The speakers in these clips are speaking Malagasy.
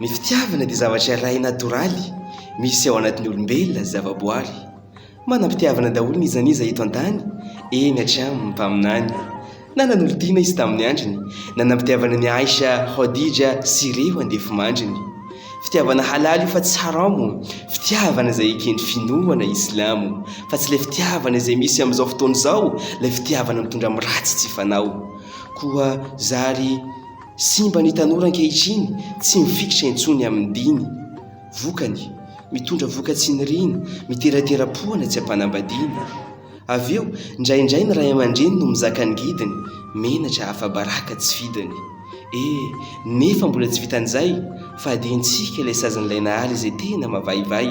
Ny fitiavana dia zavatra iray natoraly misy ao anatin'ny olombelona sy zavaboary. Manam-pitiavana daholo n'iza n'iza eto an-tany, eny hatramin'ny mpaminany. Nanan'olon-tiana izy tamin'ny androny, nanam-pitiavana an'i Aisha, Khadija sy ireo andefimandriny. Fitiavana halal io fa tsy haram, fitiavana izay eken'ny finoana islamo, fa tsy ilay fitiavana izay misy amin'izao fotoana izao, ilay fitiavana mitondra amin'ny ratsy tsy fanao. Koa zary. Simba ny tanora ankehitriny, tsy mifikitra intsony amin'ny diny. Vokany, mitondra voka-tsiniriana, miteratera-poana tsy am-panambadiana. Avy eo, indraindray ny ray aman-dreny no mizaka angidiny, menatra afa-baraka tsy fidiny. E! nefa mbola tsy vitan'izay, fadiantsika ilay sazin'ilay Nahary izay tena mavaivay.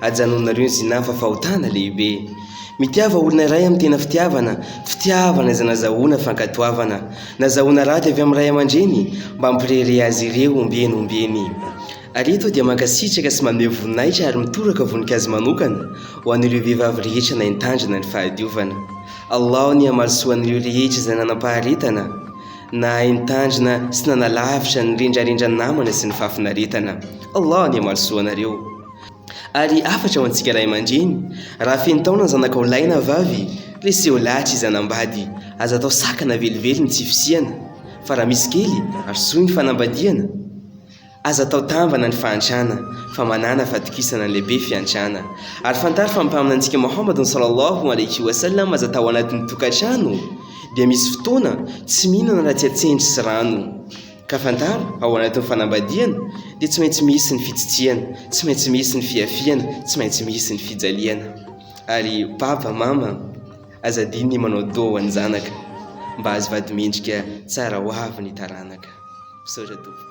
Ajanonareo ny zinah fa fahotana lehibe. Mitiava olona iray amin'ny tena fitiavana, fitiavana izay nazahoana fankatoavana, nazahoana raty avy amin'ny ray aman-dreny mba hampirehareha azy ireo ombieny ombieny. Ary eto aho dia mankasitraka sy maneho voninahitra ary mitoraka voninkazo manokana ho an'ireo vehivavy rehetra naintandrina ny fahadiovana. Allah ny hamarisoa an'ireo rehetra izay nanam-paharetana, nahay nitandrina sy nanalavitra ny rendrarendran'ny namana sy ny fahafinaretana. Allah ny hamarisoa anareo. Ary hafatra ho antsika ray aman-dreny, raha feno taona ny zanakao lahy na vavy, reseho lahatra izy hanambady, aza atao sakana velively ny tsy fisiana, fa raha misy kely ary soa ny fanambadiana, aza atao tambana ny fahantrana, fa manàna fahatokisana ny lehibe fiantrana. Ary fantaro fa ny Mpaminantsika Mohamadn Sallallahu Alaihi Wasallam aza tao anatin'ny tokantrano dia misy fotoana tsy mihinana raha tsy atsendry sy rano. Ka fantaro, ao anatin'ny fanambadiana, dia tsy maintsy misy ny fitsitsiana, tsy maintsy misy ny fihafiana, tsy maintsy misy ny fijaliana. Ary Papa, Mama, aza adino ny manao doa ho an'ny zanaka, mba azo vadi-mendrika tsara ho avy ny taranaka. Misaotra tompoko.